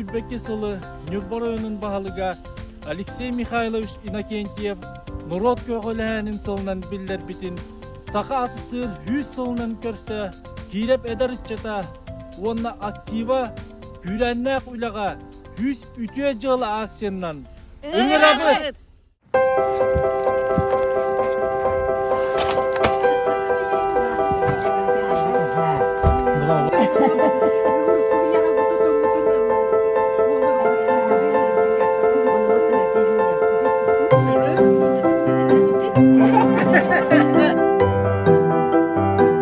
Кэбиэккэ сылы Ньурбар ойонун баһылыга Алексей Михайлович Иннокентьев норуот көҕүлэһээнин сылынан биллэрбитин Саха ас сыыр 100 сылынан көрсө Киирэп эдэр ыччата уонна актива күүрээннээх үлэҕэ Күүс үтүө дьыала акциянан ыҥырабыт!